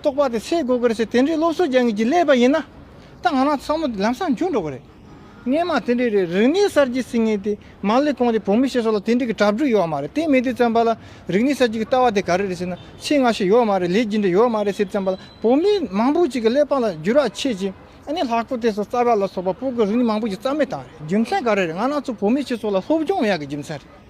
རྟོགས་པ་དེ་ཚེ་དགོས་གི་རེད་ཟེར་དེ་འདྲའི་སློབ་གསོ་རྒྱག་ངེས་ཀྱི་སླད་པ་ཡིན་ན། ད་ང་རང་ཚང་མ་དེ་ལམ་སང་འཇུག་འགྲོ་གི་རེད། ངས་མ་དེ་འདྲའི་རེད་རིག་གནས་གསར་བརྗེའི་ཟིན་ངེས་དེ་མ་ལས་གོང་དེ་བོད་མི་ཞེས་སོགས་ལ་དེ་འདྲའི་གི་གྲབ་གྲུག་ཡོད་མ་རེད་དེ་མེད་དུས་བརྩམས་པ་ལ་རིག་གནས་གསར་བརྗེ་གི་ལྟ་བ་དེ་ག་རེ་རེད་ཟེར་ན་ཚིག་སྔ་ཤོས་ཡོད་མ་རེད་ལས་ཇི་འདྲ་ཡོད་མ་རེད་ཟེར་བརྩམས་པ་ལ་བོད་མི་མང་པོ་ཅིག་གི་སླད་པ་ལ་འགྱུར་བ་ཆེ་གི་ཨ་ནི་ལྷག་པོ་དེ་སོགས་རྩ་བ་ལ་སོགས་པ་སྤོ་གི་རིག་གནས་མང་པོ་ཞིག་རྩ་མེད་བཏང་རེད་རྒྱུ་མཚན་ག་རེ་རེད་ང་རང་ཚོ་བོད་མི་ཞེས་སོགས་ལ་སློབ་སྦྱོང་མ་ཡག་གི་རྒྱུ་མཚན་རེད།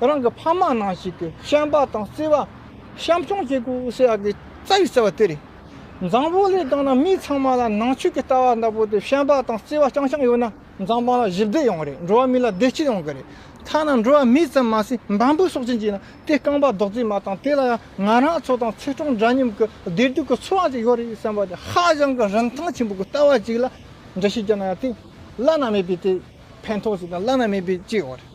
རང་གི་ཕ་མ་ནང་ཞིག་གི་བཤམས་པ་དང་བརྩེ་བ། བཤམས་སྐྱོང་བྱེད་དགོས་ཨུ་སི་ཨ་གི་རྩ་བའི་བརྩེ་བ་དེ་རེད། མཛངས་པོ་ལས་དང་ན་མི་ཚང་མ་ལ་ནང་ཆོས་ཀྱི་ལྟ་བ་ལྟ་བུ་དེ་བཤམས་པ་དང་བརྩེ་བ་རྐྱང་རྐྱང་ཡོད་ན་མཛངས་པ་ལ་གཞི་བདེ་ཡོང་གི་རེད་འགྲོ་བ་མི་ལ་བདེ་སྐྱིད་ཡོང་གི་རེད། ཐ་ན་འགྲོ་བ་མི་ཙམ་མ་ཟད་འབའ་འབུའི་སྲོག་ཅན་གྱིས་ན་དེ་རྐང་པ་རྡོག་བརྫིས་མ་དང་དེ་ལ་ཡང་ང་རང་ཚོ་དང་ཚེ་གྲོང་འདྲ་མཉམ་གྱི་བདེ་སྡུག་གི་འཚོ་བ་ཅིག་ཡོད་རེད་བསམ་པ་དེ་ཧ་ཅང་གི་རིན་ཐང་ཆེན་པོ་གི་ལྟ་བ་ཅིག་ལ་འདྲི་ཞིབ་བྱས་ན་ཡང་དེ་བླ་ན་མེད་པའི་དེ་ཕན་ཐོགས་ཅིག་དང་བླ་ན་མེད་པའི་སྐྱིད་ཡོང་གི་རེད།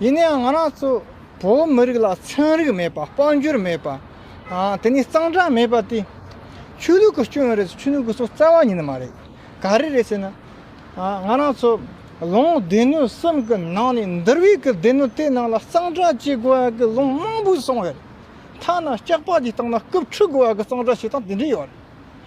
ཡིན་ནའང་ང་རང་ཚོ་བོད་མི་རིགས་ལ་ཚན་རིག་མེད་པ་དཔལ་འབྱོར་མེད་པ། དེ་ནས་གཙང་སྦྲ་མེད་པ་དེ། ཆོས་ལུགས་ཀྱི་སྐྱོན་རེད་ཆོས་ལུགས་ཀྱི་སོགས་རྩ་བ་ཉིད་མ་རེད། ག་རེ་རེད་ཟེར་ན། ང་རང་ཚོ་ལོ་ངོ་སྡེ་སྣོད་གསུམ་གྱི་ནང་ནས་འདིར་བས་ཀྱི་སྡེ་སྣོད་དེ་ནང་ལ་གཙང་སྦྲ་བྱེད་དགོས་ཡག་གི་ལུང་མང་པོ་གསུངས་ཡོད། མཐའ་ན་སྐྱག་པ་དེ་སྟེང་ན་སྐུབ་འཁྲུ་དགོས་ཡག་གི་གཙང་སྦྲ་བྱེད་སྟངས་དེ་འདྲས་ཡོད།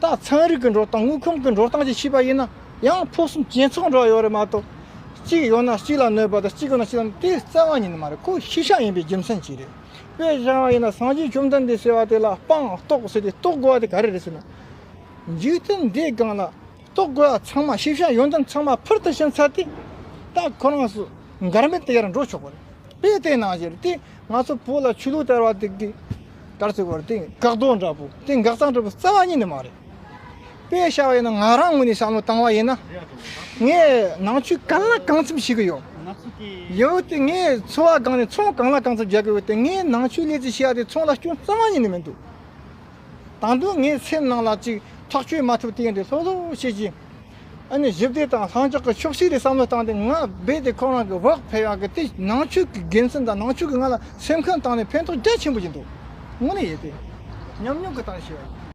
ད་ཚན་རིག་གི་འགྲོ་སྟངས་དངུལ་ཁུམ་གི་འགྲོ་སྟངས་ཀྱིས་ཕྱིས་པ་ཡིན་ན་ཡང་ཕུགས་བསམ་ཇེ་ཚོགས་འགྲོ་བ་ཡོད་རེད་མ་གཏོགས། གཅིག་ཡོད་ན་གཅིག་ལ་གནོད་པ་དང་གཅིག་ཡོད་ན་གཅིག་ལ་དེ་བཙན་དབང་ཉིད་མ་རེད་ཁོ་ཤི་ཤ་ཡིན་པའི་རྒྱུ་མཚན་གཅིག་རེད། དཔེ་ཆ་བ་ཡིན་ན་སངས་རྒྱས་བཅོམ་ལྡན་འདས་ཟེར་བ་དེ་ལ་དཔང་རྟོགས་ཟེར་ཏེ་རྟོགས་དགོས་པ་དེ་ག་རེ་རེད་ཟེར་ན། འཇིག་རྟེན་འདིའི་སྒང་ལ་རྟོགས་དགོས་པ་ཚང་མ་ཤི་ཤ་ཡོད་མདོག་ཚང་མ་ཕུར་དུ་ཕྱིན་ཚར་ཏེ། ད་ཁོ་རང་སུ་འགར་མེད་དེ་ཡར་འགྲོ་ཆོག་པ་རེད་དཔེ་དེ་ནང་བཞིན་རེད་དེ། ང་ཚོ་བོད་ལ་ཆོས་ལུགས་དར་བ་དེ་དགའ་བརྩེ་བར་དེ་དགའ་སྡོག་འདྲ་པོ་དེ་དགའ་གཙང་འདྲ་པོ་རྩ་བ་ཉིད་ནས་མ་རེད། དཔེ་བྱ་བ་ཡིན་ན་ང་རང་ངོས་ནས་བྱམས་བློ་བཏང་བ་ཡིན་ན། ངས་ནང་ཆོས་གང་ལ་གང་འཚམ་བྱེད་ཀྱི་ཡོད། ཡིན་འོས་ཏེ་ངས་འཚོ་བ་སྒང་ནས་ཚོང་གང་ལ་གང་འཚམ་རྒྱག་གི་འོས་ཏེ་ངས་ནང་ཆོས་ལས་ཚིག་བྱས་པ་དེ་ཚོང་ལ་སྐྱོན་རྩ་བ་ཉིད་ནས་མི་འདུག། དང་དུ་ངའི་སེམས་ནང་ལ་ཅིག་ཐག་ཆོད་མ་ཐུབ་དེ་འདི་ལྷོད་ལྷོད་བྱེད་ཀྱིན། ཨ་ནི་ཞིབ་བལྟས་དང་ལྷང་འཇགས་ཀྱི་ཕྱོགས་བཞི་རེ་བསམ་བློ་བཏང་སྟེ་ང་རྦད་དེ་ཁོ་རང་གི་བག་ཕེབས་ཡག་གི་དེ་ནང་ཆོས་ཀྱི་དགེ་མཚན་དང་ནང་ཆོས་ཀྱིས་ང་ལ་སེམས་ཁམས་བཏང་ནས་ཕན་ཐོགས་རྒྱ་ཆེན་པོ་བྱེད་འདུག་དངོས་གནས་ཡོད་དེ། ཉམས་མྱོང་གི་སྟངས་ཤེས།